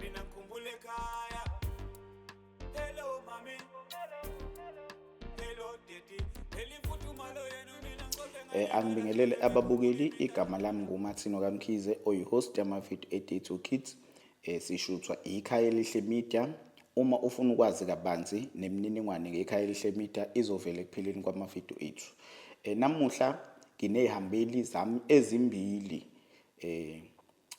mina ngikhumbule ekhaya hello mami hello daddy phela imfuthumalo yenu mina ngikhohle um angibingelele ababukeli igama lami ngumathino kamkhize oyi-host yamavidiyo e-day to kids um sishuthwa ikhaya elihle media uma ufuna ukwazi kabanzi nemininingwane ngekhaya elihle media izovela ekupheleni kwamavidiyo ethu um namuhla nginey'hambeli zami ezimbili um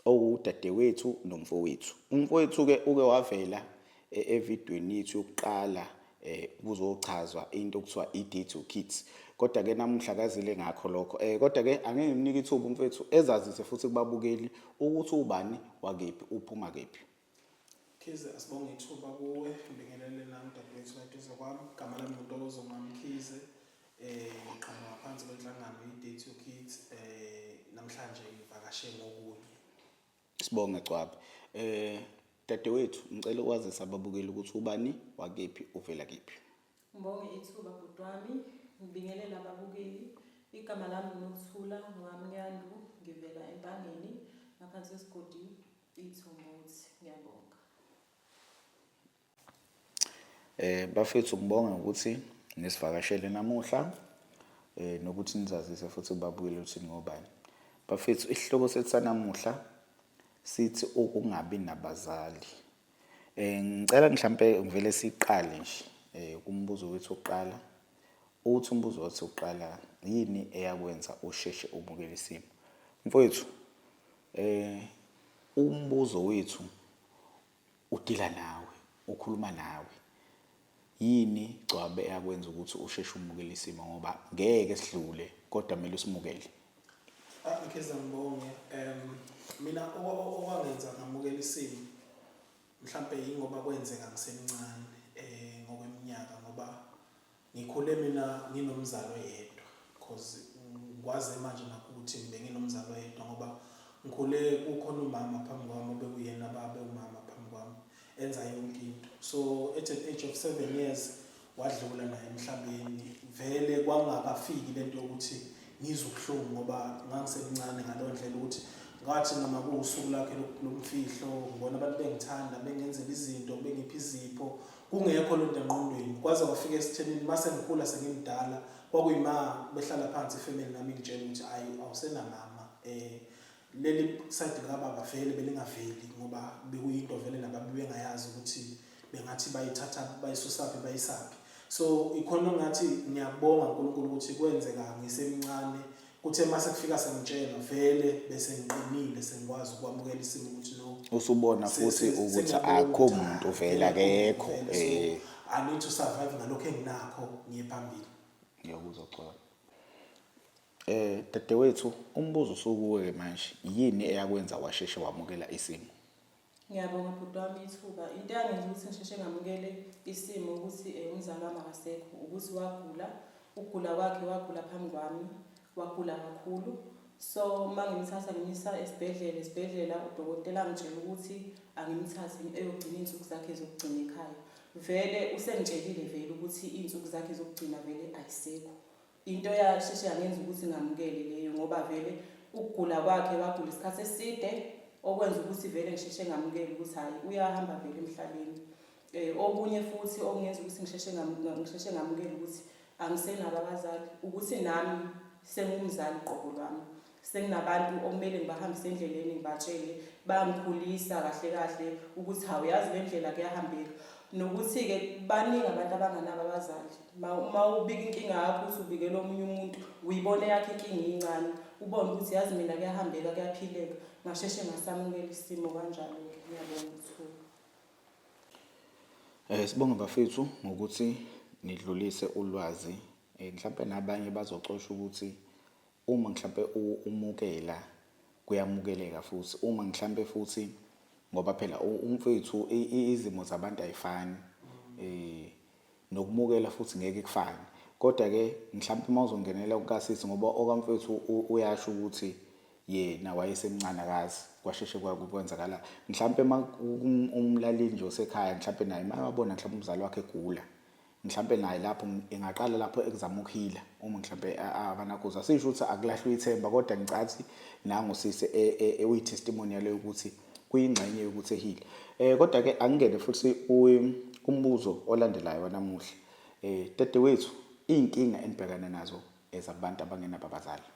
owudadewethu nomfowethu. Umfowethu-ke uke wavela e, evidweni yethu yokuqala eh kuzochazwa into okuthiwa i-day to kids kodwa ke namuhla kazile ngakho lokho eh kodwa ke angeke ngimnike ithuba umfethu ezazise futhi kubabukeli ukuthi ubani wakephi uphuma kephi Khize asibonge ithuba kuwe ngibingelele nami dadewethu kaduze kwami igama lami ngutokozo mami khize eh ngiqhamuka ngaphansi kwenhlangano i-date your kids eh namhlanje ngivakashe ngokunye sibonge cwabe eh dadewethu ngicela ukwazisa ababukeli ukuthi ubani wakephi uvela kephi ngibonge ithuba bhuti wami ngibingelela ababukeli igama lami ngunokuthula ngwamnyandu ngivela empangeni ngaphansi kwesigodi Ithumuthi ngiyabonga. Eh bafethu ngibonga ukuthi nisivakashele namuhla eh nokuthi nizazise futhi babuyele ukuthi ngobani. Bafethu isihloko sethu sanamuhla sithi ukungabi nabazali. Eh ngicela mhlambe ngivele siqale nje eh kumbuzo wethu oqala. Uthi umbuzo wathi uqala yini eyakwenza usheshe ubukele isimo? Mfowethu Eh umbuzo wethu udila nawe, ukhuluma nawe. Yini Gcwabe eyakwenza ukuthi usheshe umukele isimo ngoba ngeke sidlule kodwa kumele usimukele. Okay sangibonge. Um mina okwangenza ngamukela isimo mhlambe yingoba kwenzeka ngisemncane eh ngokweminyaka ngoba Ngikhule mina nginomzali oyedwa cause ngikwaze manje nakuthi ngibe nginomzali oyedwa ngoba ngikhule kukhona umama phambi kwami obekuyena babe umama phambi kwami enza yonke into so at an age of seven years wadlula naye emhlabeni vele kwangakafiki lento yokuthi ngizwe ubuhlungu ngoba ngangisemncane ngaleyo ndlela ukuthi ngathi noma kuwusuku lakhe lomfihlo ngibona abantu bengithanda bengenzela izinto bengipha izipho Kungekho lonto engqondweni kwaze kwafika esithenini mase ngikhula sengimdala kwakuyima behlala phansi ifamily nami ingitshela ukuthi ayi awusenamama eh leli side likababa vele belingaveli ngoba bekuyinto vele nabantu bengayazi ukuthi bengathi bayithatha bayisusaphi bayisaphi so ikhona ngathi ngiyabonga uNkulunkulu ukuthi kwenzeka ngisemncane Kuthe mase kufika sengitshela vele bese ngiqinile sengikwazi ukwamukela isimo ukuthi no. Usubona futhi ukuthi akho muntu vele akekho. Eh. I need to survive ngalokho enginakho ngiye phambili. Ngiyakuzwa Xolo. Eh dadewethu umbuzo usukuwe manje yini eyakwenza washeshe wamukela isimo? Ngiyabonga bhuti wami ithuba. Into eyangenza ukuthi ngisheshe ngamukele isimo ukuthi eh, umzali wami akasekho ukuthi wagula, ukugula kwakhe wagula phambi kwami, wagula kakhulu. So uma ngimthatha ngimisa esibhedlela, esibhedlela udokotela angitshela ukuthi angimthathe eyogcina iy'nsuku zakhe zokugcina ekhaya. Vele usengitshelile vele ukuthi iy'nsuku zakhe zokugcina vele ayisekho. Into yasheshe yangenza ukuthi ngamukele leyo ngoba vele ukugula kwakhe wagula isikhathi eside okwenza ukuthi vele ngisheshe ngamukele ukuthi hhayi uyahamba vele emhlabeni. Eh, okunye futhi okungenza ukuthi ngisheshe ngisheshe ngamukele ukuthi angisenabo abazali ukuthi nami sengumzali qobo lwami senginabantu okumele ngibahambise endleleni ngibatshele bangikhulisa kahle kahle ukuthi hawu yazi le ndlela kuyahambeka nokuthi-ke baningi abantu abanganabo abazali uma ubika inkinga yakho ukuthi ubikela omunye umuntu uyibone yakho inkinga iyincane ubone ukuthi yazi mina kuyahambeka kuyaphileka ngasheshe ngasamukela isimo kanjalo ngiyabonga uthuka um eh, sibonge bafethu ngokuthi nidlulise ulwazi um mhlawumpe nabanye bazocosha ukuthi Uma mhlampe umukela kuyamukeleka futhi uma mhlampe futhi ngoba phela umfethu izimo zabantu ayifani eh nokumukela futhi ngeke kufane kodwa ke mhlampe uma uzongenela ukasisi ngoba okamfethu uyasho ukuthi yena wayesemncane akazi kwasheshe kwenzakala mhlampe umlaleli nje osekhaya mhlampe naye mayewabona mhlampe umzali wakhe egula mhlampe naye lapho engaqala lapho ekuzama ukuhila uma mhlampe abanakuza sisho ukuthi akulahlwe ithemba kodwa ngicathi nangu sise e, e, e, uyi testimonial yokuthi kuyingxenye yokuthi ehile eh kodwa ke angingene futhi umbuzo olandelayo wanamuhla eh dede wethu inkinga enibhekana nazo ezabantu abangenabo abazali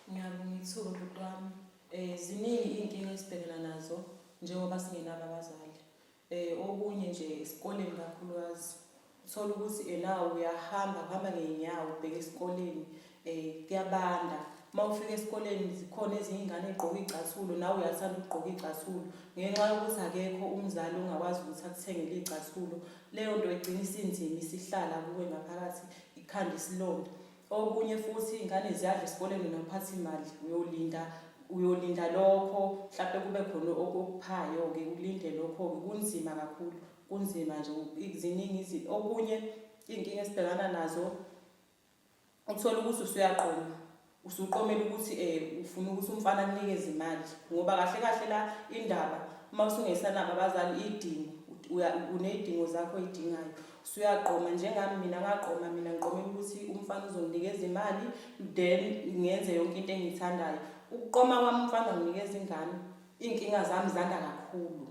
ngiyabonga ithuba butwami eh ziningi inkinga esibhekana nazo njengoba singenabo abazali Eh, okunye nje esikoleni kakhulukazi uthola ukuthi enawo uyahamba kuhamba ngey'nyawo ubheke esikoleni um kuyabanda uma ufika esikoleni zikhona ezinye iy'ngane ey'gqoke iy'cathulo nawe uyathanda ukugqoka iy'cathulo ngenxa yokuthi akekho umzali ongakwazi ukuthi akuthengele iy'cathulo leyo nto igcina isinzima isihlala kuwe ngaphakathi ikhanda isilonda Okunye futhi iy'ngane ziyadla esikoleni nomphathimali uyolinda uyolinda lokho mhlawumpe kube khona okuphayo-ke ulinde lokho-ke kunzima kakhulu kunzima nje ziningi okunye iy'nkinga esibhekana nazo uthole ukuthi usuyaqoma usuqomela ukuthi um ufuna ukuthi umfana akunikeze imali ngoba kahle kahle la indaba uma usungesanabo abazali iy'dingo uney'dingo zakho oy'dingayo Suyagqoma njengami mina ngagqoma mina ngiqomela ukuthi umfana uzonginikeza imali then ngenze yonke into engiyithandayo. Ukuqoma kwami umfana wanginikeza ingane iy'nkinga zami zanda kakhulu.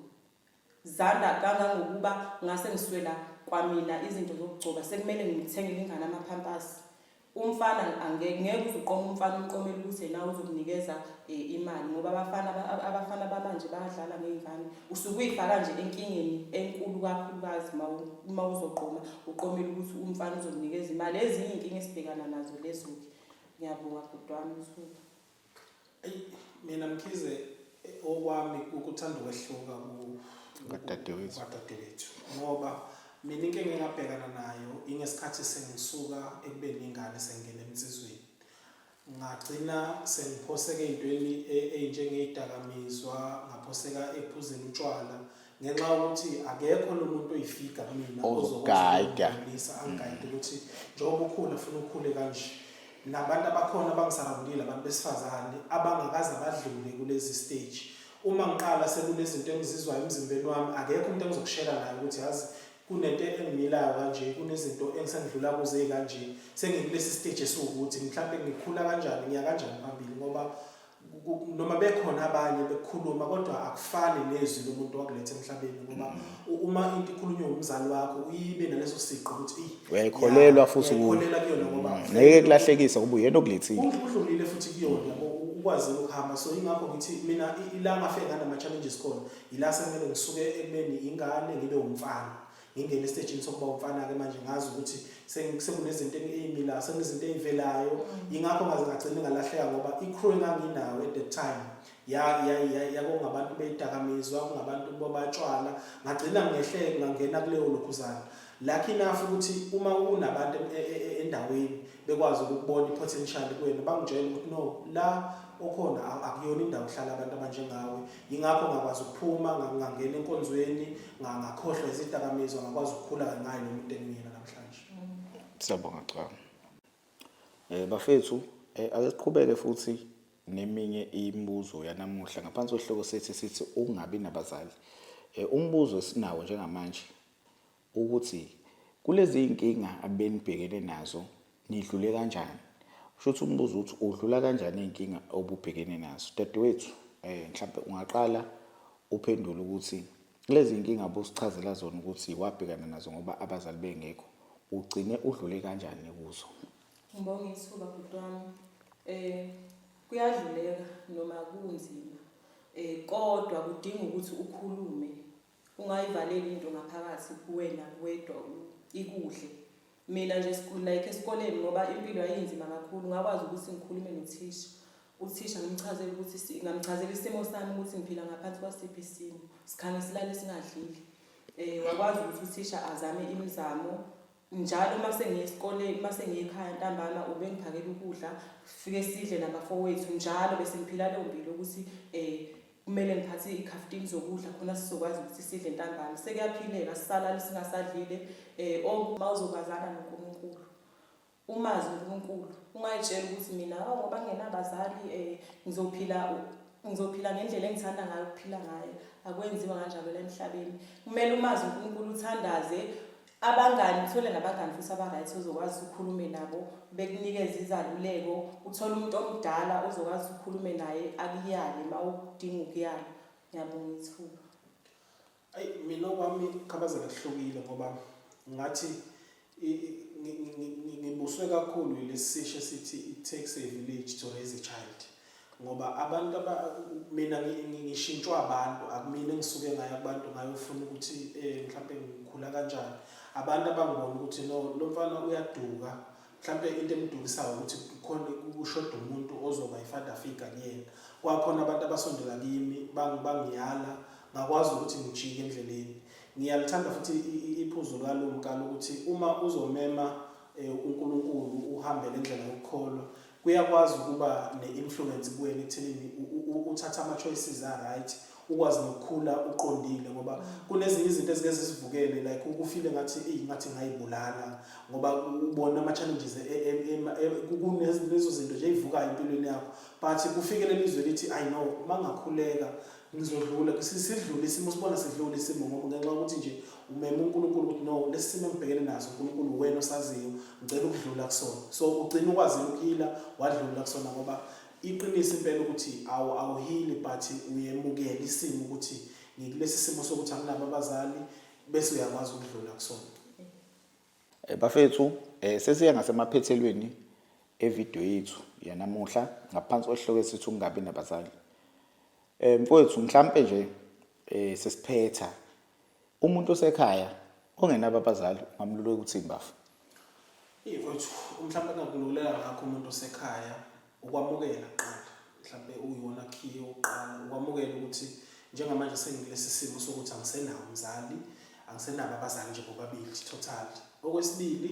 Zanda kangangokuba ngase ngiswela kwamina izinto zokugcoba sekumele ngimthengele ingane ama-pampers. Umfana angeke ngeke uzuqoma umfana umqomele ukuthi yena uzokunikeza eh, imali ngoba abafana abafana bamanje bayadlala ngey'ngane usuke uyifaka nje enkingeni enkulu kakhulukazi uma uzoqoma uqomele ukuthi umfana uzokunikeza imali ezinye iy'nkinga esibhekana nazo lezo-ke ngiyabonga bhuti wami usuku mina mkhize okwami ukuthanda ukwehluka kwadadewethu ngoba mina into engingabhekana nayo ingesikhathi sengisuka ekubeni ingane sengingena emnsizweni ngagcina sengiphoseka ey'ntweni e, ey'njengeyidakamizwa ngaphoseka ephuzeni utshwala ngenxa yokuthi akekho lo muntu oyifiga kumina ozogayida angigayide ukuthi njengoba ukhula funa ukhule kanje nabantu abakhona abangisarabulile abantu besifazane abangakaze badlule kulezi stage uma ngiqala sekunezinto engizizwayo emzimbeni wami akekho umuntu engizokushela naye ukuthi yazi kunento engimilayo kanje kunezinto engisengidlula kuze kanje sengikulesi stage esiwukuthi mhlawumbe ngikhula kanjani ngiya kanjani phambili ngoba noma bekhona abanye bekukhuluma kodwa akufani nezwi lomuntu wakuletha emhlabeni ngoba mm. uma into ikhulunywa umzali wakho uyibe naleso siqo ukuthi uyayikholelwa futhi ukholelwa kuyona ngoba mm. ngeke kulahlekisa ukuba uyena okulethile udlulile futhi kuyona ukwazi ukuhamba so ingakho ngithi mina ilanga afike nganama challenges khona ila sekumele ngisuke ekubeni ingane ngibe umfana ngingena esitejini sokuba umfana-ke manje ngazi ukuthi sekunezinto eyimilayo sekunezinto eyivelayo mm. yingakho ngaze ngagcine ngalahleka ngoba i-crew enganginayo at that time yakungabantu beyidakamizwa kungabantu bobatshwala ngagcina ngehleke ngangena kuleyo lokhuzana lakho enough ukuthi uma kunabantu e, e, e, endaweni bekwazi ukubona i-potential kuwena bangitshela ukuthi no la okhona akuyona indawo hlala abantu abanjengawe yingakho ngakwazi ukuphuma ngangena enkonzweni ngakhohlwa izidakamizwa ngakwazi ukukhula ngayo lo muntu engiyena namhlanje siyabonga cha eh bafethu eh, ake siqhubeke futhi neminye imibuzo yanamuhla ngaphansi kwehloko sethi sithi ungabi nabazali eh, umbuzo esinawo njengamanje ukuthi kulezi iy'nkinga abenibhekene nazo nidlule kanjani kusho ukuthi umbuzo ukuthi udlula kanjani iy'nkinga obubhekene nazo dadewethu um mhlawumpe ungaqala uphendule ukuthi lezi y'nkinga busichazela zona ukuthi wabhekana nazo ngoba abazali bengekho ugcine udlule kanjani kuzo ngibonga ithuba bhuti wami um eh, kuyadluleka noma kunzima um kodwa kudinga ukuthi ukhulume Ungayivaleli into ngaphakathi kuwena wedwa ikudle. Mina nje like esikoleni ngoba impilo yayinzima kakhulu ngakwazi ukuthi ngikhulume nothisha. Uthisha ngimchazele ukuthi ngamchazela isimo sami ukuthi ngiphila ngaphansi kwasiphi isimo. Sikhange silale singadlile. Eh wakwazi ukuthi uthisha azame imizamo Njalo uma sengiya esikoleni, uma sengiya ekhaya ntambama ubengiphakela ukudla, sifike sidle nabafowethu. Njalo bese ngiphila leyo mpilo yokuthi um kumele ngiphathe iy'khaftini zokudla khona sizokwazi ukuthi sidle ntambama. Sekuyaphileka, sisalala singasadlile um or uma uzokwazana noNkulunkulu, umazi uNkulunkulu, ungay'tsheli ukuthi mina o ngoba ngingenabazali um ngizophila ngizophila ngendlela engithanda ngayo ukuphila ngayo. Akwenziwa kanjalo la emhlabeni. Kumele umazi uNkulunkulu, uthandaze, Abangani, uthole nabangani futhi aba-right ozokwazi ukhulume nabo bekunikeze izaluleko, uthole umuntu omdala ozokwazi ukhulume naye akuyale uma udinga ukuyala. Ngiyabonga ithuba. Ayi mina okwami khabazela kuhlukile ngoba ngathi ngibuswe kakhulu yilesi sisho sithi it takes a village to raise a child. ngoba abantu mina ngishintshwa abantu akumina engisuke ngayo abantu ngayofuna ukuthi eh, mhlawumbe ngikhula kanjani abantu abangibona ukuthi no lo mfana uyaduka mhlawumbe into emdukisayo ukuthi kukhona kushoda umuntu ozoba i-father figure kuyena kwakhona abantu abasondela kimi bangiyala ngakwazi ukuthi ngijike endleleni ngiyalithanda futhi iphuzu likalumkalo ukuthi uma uzomema um unkulunkulu uhambele indlela yokukholwa Kuyakwazi ukuba ne influence kuwena ekuthenini uthathe ama choices a right, ukwazi nokukhula uqondile ngoba kunezinye izinto ezike zisivukele like ukufile ngathi eyi ngathi ngayibulala ngoba ubona ama challenges kunezo zinto nje ezivukayo empilweni yakho but kufikele lizwe lithi i know mangakhuleka ngizodlula sidlule isimo sibona sidlule isimo ngoba ngenxa yokuthi nje umeme uNkulunkulu ukuthi no lesi simo engibhekene naso uNkulunkulu wena osaziyo ngicela ukudlula kusona so ugcina ukwazile ukuhila wadlula kusona ngoba iqiniso impela ukuthi awu awuhili but uyemukela isimo ukuthi ngikulesi simo sokuthi anginabo abazali bese uyakwazi ukudlula kusona Eh, bafethu eh, sesiya ngasemaphethelweni evidiyo yethu yanamuhla ngaphansi kwesihloko esithi ukungabi nabazali eh, mfowethu mhlampe nje eh, sesiphetha umuntu osekhaya ongenabo abazali ungamluleka ukuthi imbafu mfowethu mhlampe angakululeka ngakho umuntu osekhaya ukwamukela kuqala mhlawumbe uyiwona khiye yokuqala ukwamukela ukuthi njengamanje sengikulesi simo sokuthi angisenawo umzali angisenabo abazali nje bobabili total okwesibili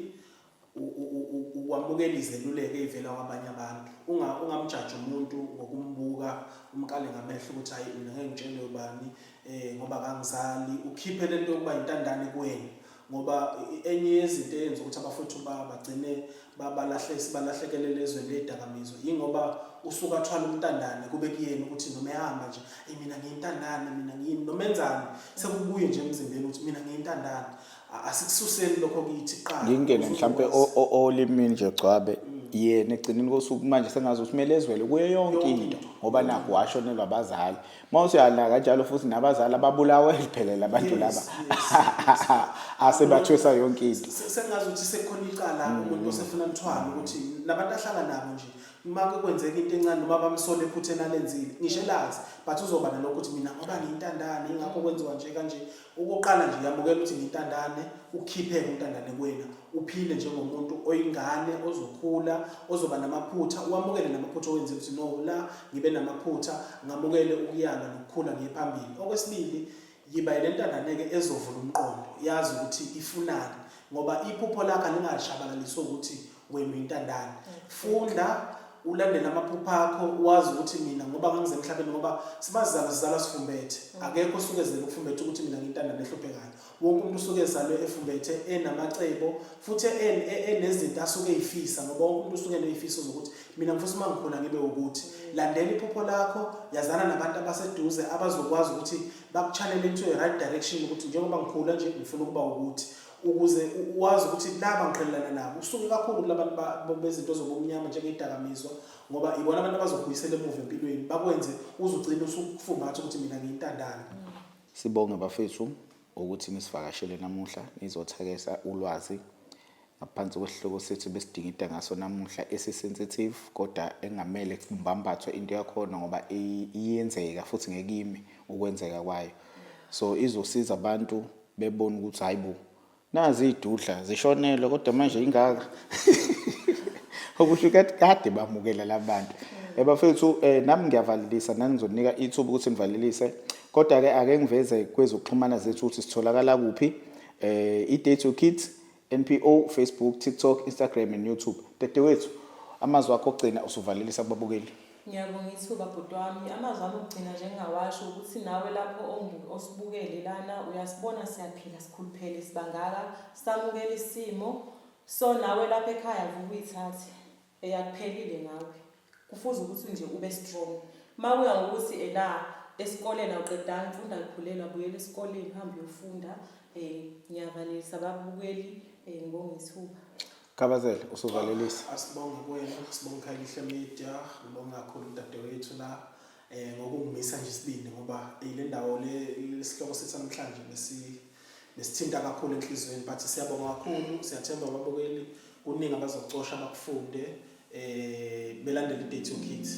ukwamukela izeluleko eyivela kwabanye abantu ungamjaji umuntu ngokumbuka umkale ngamehlo ukuthi hayi mina ngeke ngitshelwe ubani um ngoba kangizali ukhiphe lento yokuba yintandane kuwena ngoba enye yezinto eyenza ukuthi abafowethu bagcine balahlekelele ezweni ley'dakamizwa yingoba usuke athwala umntandane kube kuyena ukuthi noma ehamba nje eyi mina ngiyintandane mina ngiyini noma enzani sekubuye nje emzimbeni ukuthi mina ngiyintandane asikususeli lokho kithi qala ngingene mhlampe olimini nje gcwabe yena egcineni kosuku manje sengazi ukuthi kumele ezwele kuyo yonke into ngoba nakho washonelwa abazali uma usuyala kanjalo futhi nabazali ababulawe liphelele abantu laba asebathwesa yonke into sengazi ukuthi sekhona icala mm. umuntu osefuna lithwala ukuthi nabantu ahlala nabo nje uma kwenzeka into encane noma bamsole ephutheni alenzile ngisho elazi but uzoba nalokho ukuthi mina ngoba ngiyintandane ingakho kwenziwa nje kanje Okokuqala nje yamukela ukuthi ngintandane, ukhipheke untandane kuwena, uphile njengomuntu oyingane ozokhula, ozoba namaphutha, uwamukele namaphutha owenze ukuthi no la ngibe namaphutha, ngamukele ukuyalwa nokukhula ngiye phambili. Okwesibili yiba yilentandane-ke ezovula umqondo, yazi ukuthi ifunani ngoba iphupho lakho alingashabalaliswa ukuthi wenu intandane funda ulandele amaphupha akho wazi ukuthi mina ngoba ngangize emhlabeni ngoba sibazalwa sizalwa sifumbethe mm. akekho usuke ezele ukufumbethe ukuthi mina ngintanda nehluphekayo wonke umuntu usuke ezalwe efumbethe enamacebo futhi e, e, enezinto asuke eyifisa ngoba wonke umuntu usuke neyifiso zokuthi mina ngifisa uma ngikhona ngibe ukuthi mm. landela iphupho lakho yazana nabantu abaseduze abazokwazi ukuthi bakuchanele into e right direction ukuthi njengoba ngikhula nje ngifuna ukuba ukuthi ukuze wazi ukuthi laba ngiqhelelana nabo usuke kakhulu kulabantu bezinto zobumnyama njengedakamizwa ngoba ibona abantu abazokubuyisela emuva empilweni bakwenze uzugcina usukufungatha ukuthi mina ngiyintandane sibonge bafethu ukuthi nisivakashele namuhla nizothakesa ulwazi ngaphansi kwesihloko sethu besidingida ngaso namuhla esisensitive kodwa engamele kumbambathwe into yakhona ngoba iyenzeka futhi ngekimi ukwenzeka kwayo so izosiza abantu bebona ukuthi hayi bo nazi iy'dudla zishonelwe kodwa manje ingaka okusho ukuthi kade bamukela la bantu ebafethu um eh, nami ngiyavalelisa nani ngizoninika ithuba ukuthi nivalelise kodwa-ke ake ngiveze kwezokuxhumana zethu ukuthi sitholakala kuphi um i-date to kids NPO, Facebook, TikTok, Instagram and YouTube. Dadewethu, amazwi akho okugcina usuvalelisa kubabukeli. Ngiyabonga ithuba bhuti wami. Amazwi ami okugcina nje engingawasho ukuthi nawe lapho ongu- osibukele lana uyasibona siyaphila sikhuluphele sibangaka samukele isimo. So nawe lapha ekhaya vuka uyithathe. eyakuphelile ngawe kufuze ukuthi nje ube strong makuya ngokuthi ena esikoleni awuqedanga ufunda likhulelwa buyela esikoleni hambe uyofunda eh ngiyavalelisa babukeli eh ngongethuba Kabazele usuvalelisa ah, asibonga kuwena sibonga Khayelihle Media ngibonga kakhulu udadewethu la eh ngokungimisa nje isibindi ngoba eh, le ndawo le lesihloko sethu namhlanje besi nesithinta kakhulu enhlizweni but siyabonga kakhulu siyathemba ababukeli kuningi abazocosha bakufunde eh belandele idate yokids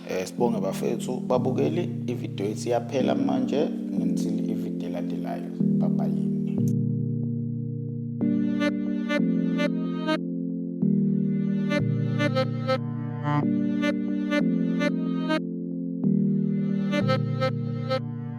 eh sibonge bafethu babukeli ivideo ethi yaphela manje ngensile ivideo elandelayo bye bye Thank you.